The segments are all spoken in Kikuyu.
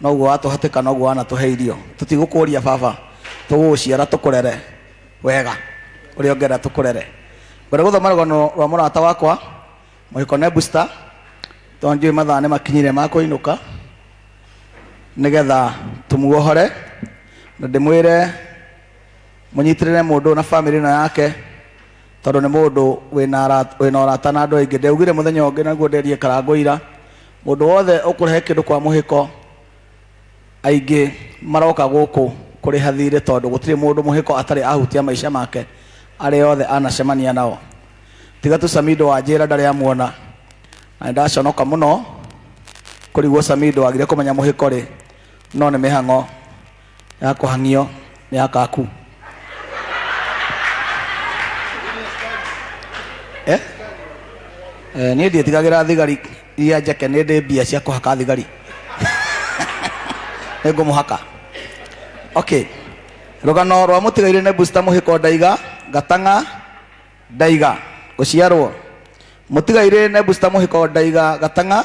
noguo watũhatĩka noguo wanatũhe irio tũtigũkũria baba tũgũgũciara tũkũrere wega ũrĩa ũngĩenda tũkũrere ngwenda gũthoma rũgano rwa mũrata wakwa mũhiko nebusta tondũ njũĩ mathaa nĩ makinyire ma kũinũka nĩgetha tũmuohore na ndĩmwĩre mũnyitĩrĩre mũndũ na bamĩrĩ ĩno yake tondũ nĩ mũndũ wĩna ara- wĩna ũrata na andũ aingĩ ndeugire mũthenya ũngĩ naguo nderie karango ira Mũndũ wothe ũkũrehe kĩndũ kwa mũhĩko, aingĩ maroka gũkũ kũrĩha thiirĩ tondũ gũtirĩ mũndũ mũhĩko atarĩ ahutia maica make arĩa othe anacemania nao. Tiga tu Samido wanjĩra ndarĩ amuona na nĩndaconoka mũno kũrigwo Samido agire kũmenya mũhĩko rĩ no nĩ mĩhang'o. ya kũhang'io nĩ ya kaku eh? eh, niĩ ndiĩtigagĩra thigari iria njeke nĩ ndĩ mbia cia kũhaka thigari nĩ ngũmũhaka okay rũgano rwa mũtigaire nĩ busta mũhĩko ndaiga gatang'a ndaiga gũciarwo mũtigaire nĩ busta mũhĩko ndaiga gatang'a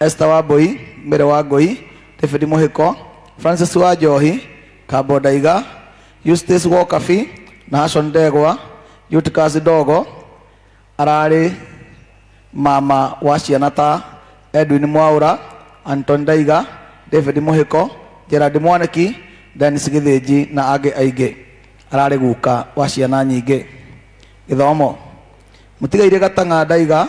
Esther Wambui, Mbere wa Ngũi, David Mũhĩko, Francis wa Njohi, Kambo Ndaiga, Eustace Wokabi, Nahashon Ndegwa, Eutychus Ndogo, ararĩ mama wa ciana ta Edwin Mwaũra, Anton Ndaiga, David Mũhĩko, Gerard Mwaniki, Dennis Gĩthĩnji na angĩ aingĩ. Ararĩ guka wa ciana nyingĩ. Gĩthomo. Mũtigairĩ Gatang'a Ndaiga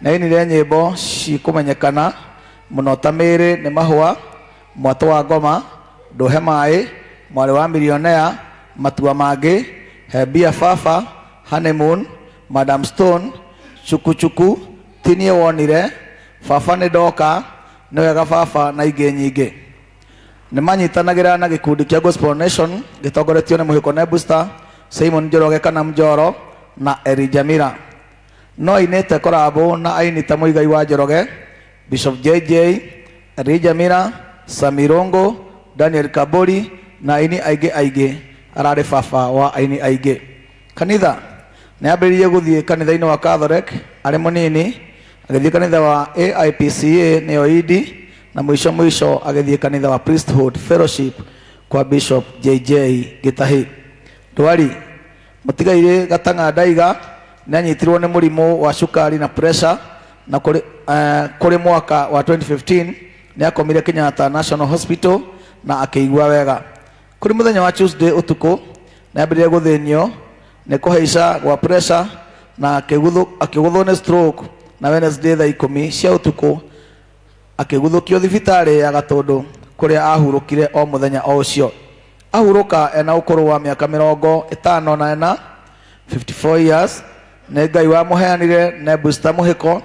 na ini rĩa nyĩmbo cikũmenyekana mũno ta mĩĩrĩ nĩ mahũa mwatũ wa ngoma ndũhe maĩ mwarĩ wa milionea matua mangĩ hebia baba honeymoon madam stone chukuchuku tinie wonire baba nĩ ndoka nĩ wega baba na ingĩ nyingĩ nĩ manyitanagĩra na gĩkundi kĩa gospel nation gĩtongoretio nĩ mũhĩko nebusta simon njoroge kana mjoro na eri jamira no ainĩte korabo na aini ta Mũigai wa Njoroge, Bishop JJ, Elijah Mira, Sami Rongo, Daniel Kabori na aini aingĩ aingĩ. Ararĩ baba wa aini aingĩ. Kanitha nĩ ambĩrĩirie gũthiĩ kanitha-inĩ wa Catholic arĩ mũnini, agĩthiĩ kanitha wa AIPCA nĩyo Idi, na mũico mũico agĩthiĩ kanitha wa Priesthood Fellowship kwa Bishop JJ Gĩtahi. Ndwari Mũtigairĩ Gatang'a Ndaiga nĩanyitirwo nĩ mũrimũ wa cukari na pressure na kũrĩ, eh, kũrĩ mwaka wa 2015 nĩakomire Kenyatta National Hospital na akĩigua wega. Kũrĩ mũthenya wa Tuesday ũtukũ nĩambĩrĩirie gũthĩnio nĩ kũhaica gwa pressure na akĩgũthwo akĩgũthwo nĩ stroke na Wednesday thaa ikũmi cia ũtukũ akĩguthũkio thibitarĩ ya gatũndũ kũrĩa ahurũkire o mũthenya o ũcio ahurũka ena ũkũrũ wa mĩaka mĩrongo ĩtano na ĩna 54 years nĩ ngai wamũheanire nebusta mũhĩko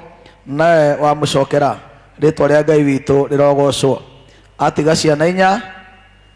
nawe wamũcokera rĩtwa rĩa ngai witũ rĩrogocwo atiga ciana inya